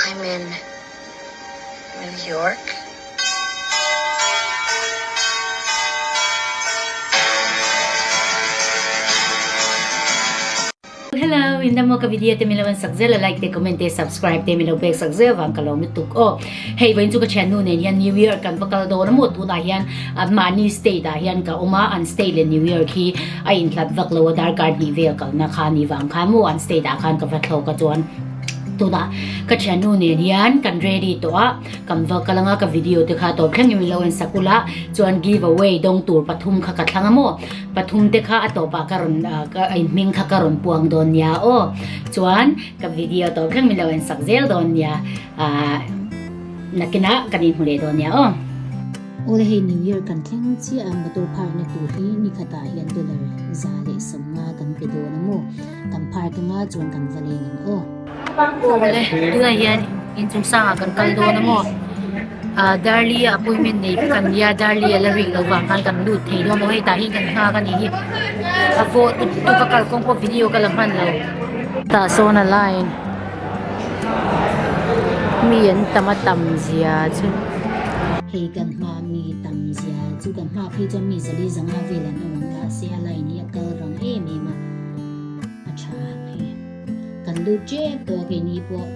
Hyman, New York. Hello, min damo ka video te min lo en sak zel a like te comment te subscribe te min lo pek sak zel vang ka lo lutuk aw hei vain chu ka thian nu nen hian new year kan va kal dawn a maw tunah hian mahni state ah hian ka awm a an state leh new year khi a intlat vak lo a darkar hnih vel kalna kha ni vang khan maw an state ah khan ka va thlawk a chuan tunah ka thiannu nen hian kan ready tawh a kan va kal anga ka video te kha tawp thlengin min lo en sak ula chuan give away dawng tur pathum kha ka thlang a maw pathum te kha a tawpah ka rawn in hming kha ka rawn puang dawn nia aw chuan ka video tawp thleng min lo en sak zel dawn nia ahh nakinah kan inhmu leh dawn nia aw Awle hei New Year kan thleng chiaha motor phar na tur hi ni khatah hian dollar za leh sawmnga kan pe dawn a maw? Kan phar ka nga chuan kan va lei ngam aw. Awle tunah hian inchungsanga kan kal dawn a maw? Darli a appointment nei ka kan nia, Darli a la ring lo vang khan kan lut thei dawn aw. Hei tah hian kan nghak a nih hi. A vote tuk a kalkawng pawh video ka la hman lo. Tah sawn a la in. mi an tam a tam zia chu hei ka hma mi tam zia chu ka hma phei chuan mi zali zanga vel an awm ang kha ase a line hi a kal rang em em a a tha hi kan lut che pawh a keini pawh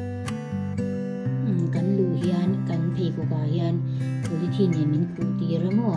kan luh hian kan pheikhawkah hian politin nen min khuh tir a maw.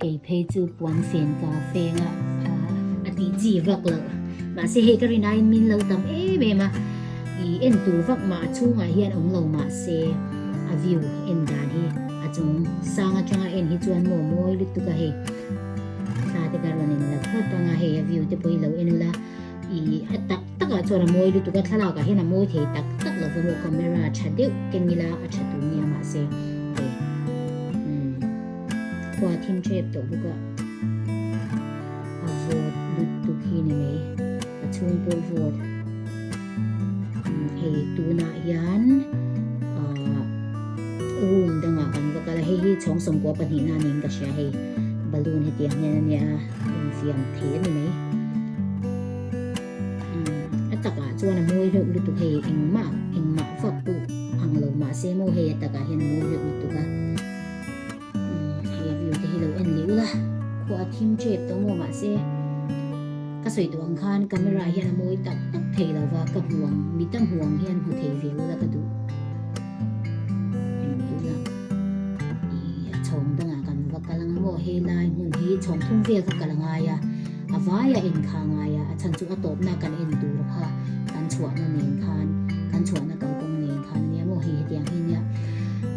Kei phei chu puan fen ka feng a. A ti chi vak lo. Mahse hei ka rin aiin min lo tam em em a. I en tur vak mah a chhungah hian awm lo mahse a view en dan hi a chung sang atanga en hi chuan maw mawi lutuk a hei. Hla te ka rawn en la phawt ang a hei a view te pawh i lo en la. I a tak takah chuan a mawi lutuk a thlalakah hian a mawi thei tak tak lo vawm o camera tha deuh keng ila a tha tur nia mahse. Khua thim ṭhep tawh bawk a, a vote lut tuk hi ni mai, a chhung pawh vote hei tunah hian room dangah kan va kal a, hei hi chhawng sawmkua pahnih nan niin ka hria hei balloon hetiang hian a nia infiam thle a ni mai, a takah chuan a mawi hleuh lutuk hei engmah engmah vak pawh ang lo mahse maw hei a takah hian a mawi hleuh lutuk a. nute hi lo en leh ula khuaa thim chet tawh maw mah se ka sawi tawh ang khan camera ah hian a mawi tak tak thei lo va ka hmuang mi ta hmuang hian hmu thei ve ula ka duh chhawng dangah kan va kal ang maw he lai hmun hi chhawng thum vel kha kal ngai a a vai a en kha ngai a a chhan chu a tawpna kan en tur kha kan chhuahna nen khan kan chhuahna kalkawng nen khan ania maw hei hetiang hi nia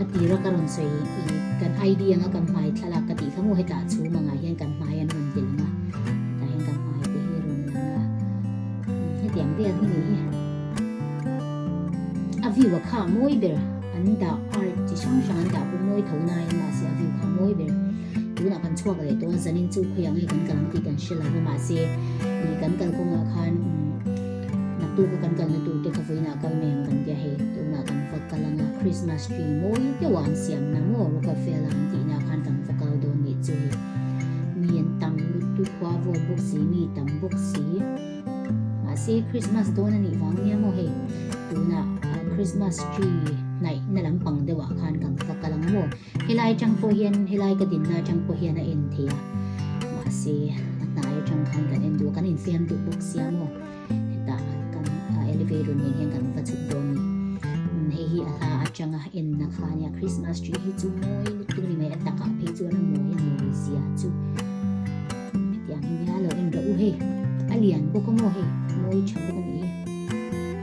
A ti rak a rawn sawi i kan ID anga kan hmai thlalak ka tih thlang u hetah chhum angah hian kan hmai an rawn ti langa hetah hian kan hmai te hi a rawn lang a umm hetiang biak hi ni hi a view a kha mawi ber an dah art chi hrang hrang an dah pawh mawi tho naiin mahse a view kha mawi ber tunah kan chhuak leh tawh a zanin chu khawih ang i kan kal ang tih kan hre lo va mahse i kan kal kawngah khan umm. Naktu kha kan kalna tur te kha vawiinah a kal mai ang kan tia hei, tunah kan va kal ang a, Christmas tree mawi deuh a an siam na maw, Rockefeller an tih na khan kan va kal dawn nih chu hei, mi an tam lut tu khua vawt bawk si, mi tam bawk si, mahse Christmas dawn a nih vang nia maw hei, tunah Christmas tree hnaihna lampang deuhah khan kan va kal ang a maw. Helai atang pawh hian, helai ka dinna atang pawh hian a en thei a, mahse a hnai atang khan kan en duh a, kan infiam duh bawk sia maw, hetah kan a elevator nen hian kan va chhuk dawn ni. Umm hei hi a hla atanga enna kha a nia, Christmas tree hi chu mawi lutuk ri mai, a takah phei chuan a mawi a ni ri sia chu. Umm hetiang hi nia, lo en rawh u hei, a lian bawk a maw hei, mawi tha bawk a ni e.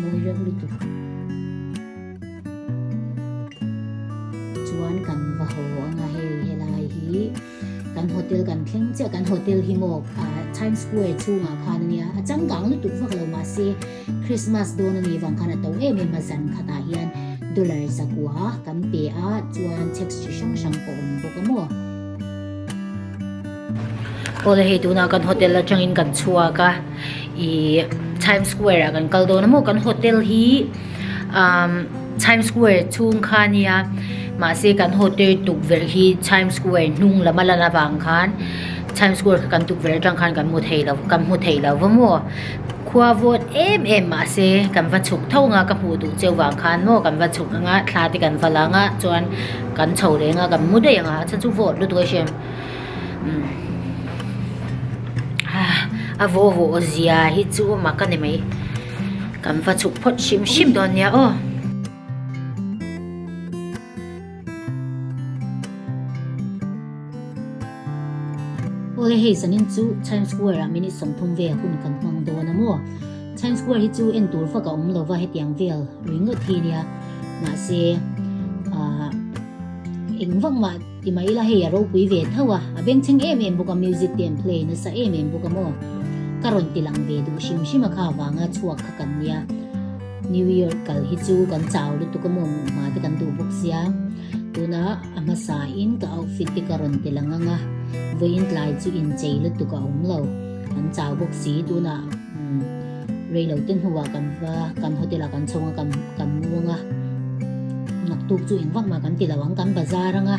mawi reuh lutuk chuan kan va haw anga hei helai hi kan hotel kan thleng che kan hotel hi maw Times Square chhungah khan ania a changkang lutuk vak lo ma se Christmas dawn ani vang khan a to em em a zan khatah hian dollar zakua kan pe a chuan tax chi hrang hrang pawh awm bawk a maw Awle hei tuna kan hotel atangin kan chhuak a ih Times Square ah kan kal dawn a maw kan hotel hi umm Times Square chhung kha a nia mahse kan hotel tukverh hi Times Square hnung lam a lan avang khan Times Square kha kan tukverh atang khan kan hmu thei lo kan hmu thei lo va maw khua vawt em em mahse kan va chhuk tho anga ka hmuh duh cheu vang khan maw kan va chhuk anga thla te kan va la anga chuan kan chho leh anga kan mu daih anga a chhan chu vawt lutuk a hriam. a vawvawh zia hi chu mak a ni mai kan va chhuk phawt hrim hrim dawn nia aw. Aw hei sanin chu Times Square ah minute sawmthum vel hun kan hmang dawn a maw? Times Square hi chu en tur fak a awm lo va hetiang vel ringawt hi nia mahse engvangmah Ti mai ila hei a ropui ve thauh a, a bengchheng em em bawk a, music te an play nasa em em bawk a maw. Ka rawn ti lang ve duh hrim hrim a kha avanga chhuak kha kan nia. New year kal hi chu kan chau lutuk a maw muh hma te kan duh bawk sia. Tuna a hmasa in ka outfit te ka rawn tel ang ang a, vawiin tlai chu inchei lutuk a awm lo. Kan chau bawk si tunah umm. Reilo te hnuah kan va, kan hotel ah kan chhawng a, kan kan muang a, naktuk chu eng vak mah kan tilo ang, kan bazar anga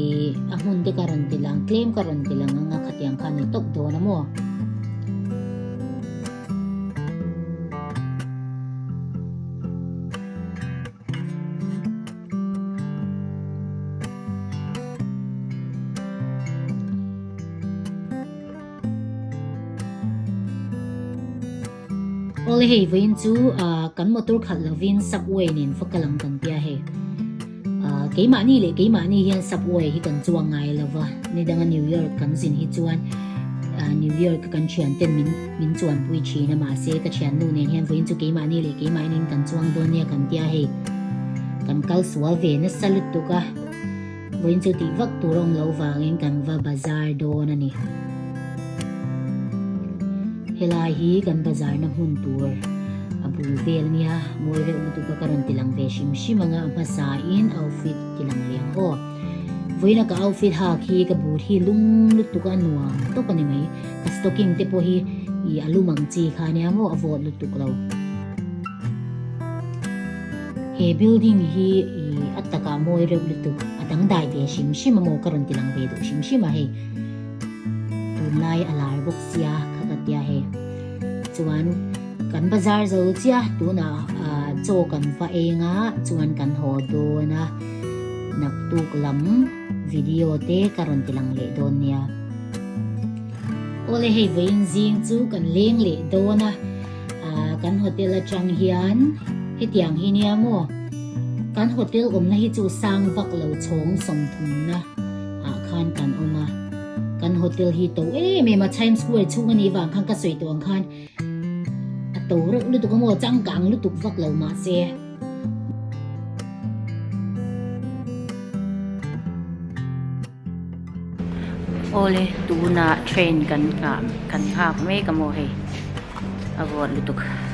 ih a hmun te ka rawn tel ang, tlem ka rawn tel ang anga khatiang kha ani tawp dawn a maw. Awle hei vawiin chu kan motor khalh lovin subway nen fakal ang kan tia hei. Keimahni leh keimahni hian subway hi kan chuang ngai lo va, nidanga New York kan zin hi chuan New York kan thian ten min min chuan pui thin a mahse ka thiannu nen hian vawiin chu keimahni leh keimahniin kan chuang dawn nia kan tia hei. Kan kal sual ve nasa lutuk a. Vawiin chu tih vak tur awm lo vangin kan va bazar dawn a ni. Helai hi kan bazarna hmun tur a bul vel a nia. Mawi reuh lutuka ka rawn ti lang ve hrim hrim anga hmasain outfit ti lang ve ang aw. Vawiina ka outfit hak hi ka but hi lung lutuka a nuam tawp a ni mai. Ka stocking te pawh hi i a lum ang chi kha nia maw a vawt lutuk lo. He building hi i a takah mawi reuh lutuk a dangdai ve hrim hrim a maw ka rawn ti lang ve duh hrim hrim a hei. Tunlai a lar bawk sia kha ka tia hei. Chuan kan bazar zo chia tunah chaw kan va eng a chuan kan haw dawn a naktuk lam video te ka rawn ti lang leh dawn nia. Awle hei vawiin zing chu kan leng leh dawn a. Ahh kan hotel atang hian hetiang hi nia maw? Kan hotel awmna hi chu sang vak lo chhawng sawmthumna ah khan kan awm a. Kan hotel hi to em em a, Times Square chhung a nih vang khan ka sawi tawh ang khan a to reuh lutuk a maw, changkang lutuk vak lo mah se. Awle tuna train kan nghak kan nghak mek a maw hei a vuan lutuk a.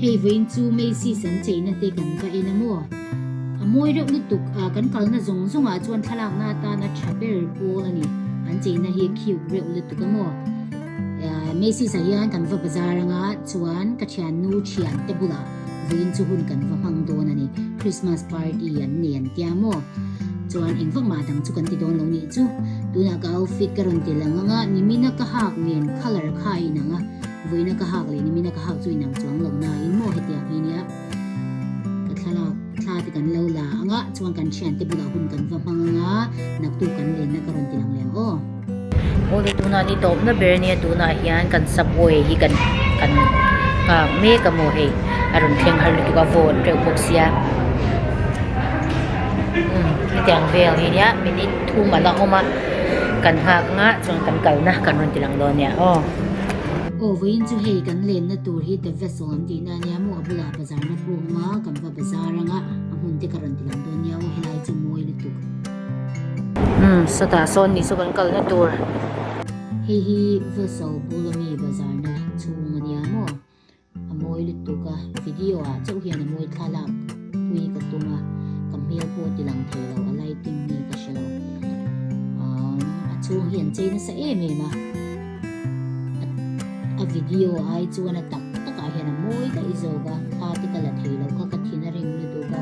Hei vawiin chu Macy's an cheina te kan va en a maw? A mawi reuh lutuk a kan kalna zawng zawngah chuan thlalakna atana tha ber pawl a ni. An cheina hi cute reuh lutuk a maw? Macy's ah hian kan va bazar anga chuan ka thiannu thiante bulah Vin chu hun kan va hmang dawn a ni. Christmas party an nei an tia maw? Chuan eng vak mah dang chu kan ti dawn lo nih chu. Tunah ka outfit ka rawn ti lang ang a, Nimina ka hak nen colour kha a inang a. Vuina ka hak leh Nimina ka hak chu inang chuang lo nain maw hetiang hi nia? Ka thlalak thla te kan lo la ang a, chuan kan thiante bulah hun kan va hmang ang a, naktu kan lenna ka rawn ti lang leh ang aw. Aw ni tuna ni tawpna ber nia tunah hian kan subway hi kan kan nghak mek a maw hei a rawn thleng har lutuk a vawt reuh bawk sia umm hetiang vel hi nia minute thum an la awm a kan nghak nghah chuan kan kalna kan rawn tilang dawn nia aw aw vawiin chu hei kan lenna tur hi the vessel an tihna ania maw a bulah bazarna pawh a awm a kan va bazar anga a hmun te ka rawn tilang dawn nia aw helai chu a mawi lutuk. Umm sawtah sawn ni chu kan kal na tur. Hei hi Vawlso Bulawmi bazarna chhung a nia maw? A mawi lutuk a, video ah chauh hian a mawi thla lak pui ka tum a, ka hmel pawh ti lang thei lo, a lighting nge ka hre lo. Umm a chhung hi an chei nasa em em a, a video ai chuan a tak tak ah hian a mawi daih zawk a, thla te ka la thei lo kha ka thin a ring lutuk a.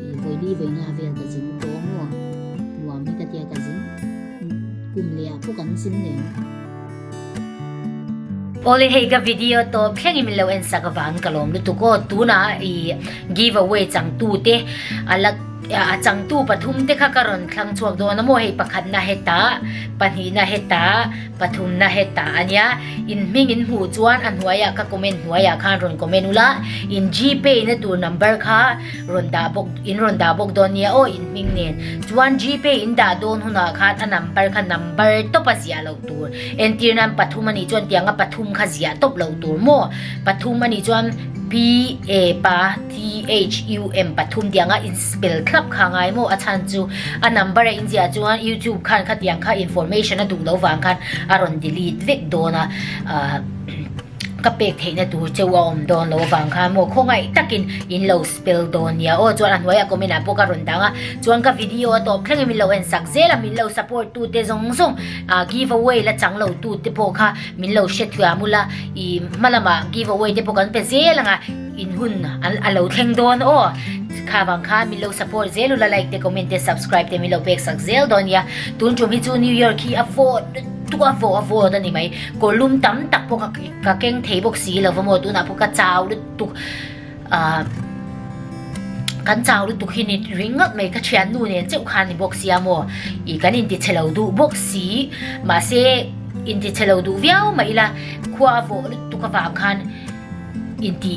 Vawibi vawiinga vel ka zing tawh maw? Nuam hi ka tia ka zing. Kum leh ah pawh kan zing leh ang. Awle hei ka video tawp thleng i min lo en sak avang ka lawm lutuk aw, tuna i give away changtu te a la a changtu pathum te kha ka rawn thlang chhuak dawn a maw hei pakhat na heta, pahnih na heta, pathum na heta a nia inhming in hmuh chuan a hnuai ah ka comment hnuai ah khan rawn comment ula in GPay na tur number kha. rawn dah bawk in rawn dah bawk dawn nia aw inhming nen chuan g pay in dah dawn hunah khan a number kha number tawp a ziah loh tur entir nan pathum a nih chuan tiang a pathum kha ziah tawp loh tur maw pathum a nih chuan p a p a t h u m pathum tiang a in spell thlap kha a ngai maw a chhan chu a number a inziah chuan youtube khan khatiang kha information a duh lo vang khan a rawn delete vek dawn a ahh ka pek theihna tur che a awm dawn lo avang kha maw khawngaih takin in lo spell dawn nia aw chuan a hnuai a comment ah pawh ka rawn dang a chuan ka video a tawp thleng em in lo en sak zel a min lo support tu te zawng zawng ah giveaway la chang lo tu te pawh kha min lo hre thuam ula i hma lamah giveaway te pawh kan pe zel ang a in hun a lo thleng dawn aw kha vang kha min lo support zel ula like te comment te subscribe te min lo pek sak zel dawn nia tun tum hi chu new year khi a vawt-- Tuk a vawh a vawt a ni mai. Kawrlum tam tak pawh ka ka keng thei bawk si lo va maw tunah pawh ka chau lutuk ah kan chau lutuk hi ni ring ngat mai ka thiannu nen cheuh kha ni bawk si a maw i kan intichhe lo duh bawk si mahse intichhe lo duh viau mai ila khua a vawh lutuk avang khan inti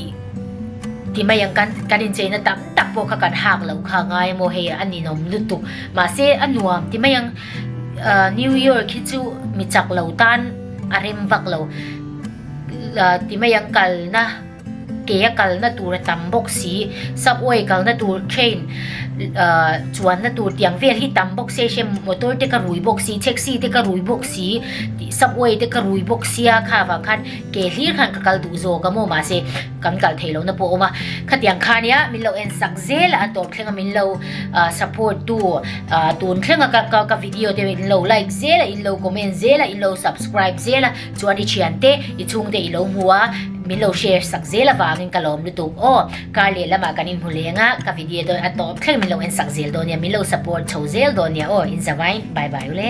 ti mai ang kan kan incheina tam tak pawh kha kan hak lo kha ngai a maw hei a ninawm lutuk mahse a nuam ti mai ang. New York hi chu mi chak lo tan a rem vak lo. Ti mai ang kalna ke a kalna tur a tam bawk si. Subway kalna tur train chuanna tur tih ang vel hi tam bawk si a hriat ang. Motor te ka rui bawk si, taxi te ka rui bawk si, subway te ka rui bawk si a kha vang khan ke hlir khan ka kal duh zawk a maw mah se. Kan kal thei lohna pawh a awm a, khatiang khania min lo en sak zel a, tawp thlenga min lo support tu tun thlenga ka video te in lo like zel a, in lo comment zel a, in lo subscribe zel a chuan i thian te i chhungte i lo hmu a min lo share sak zel avangin ka lawm lutuk aw. Kar leh lamah kan inhmu lenga ka video te a tawp thleng min lo en sak zel dawn nia, min lo support chho zel dawn nia aw, inzavain bye bye ule.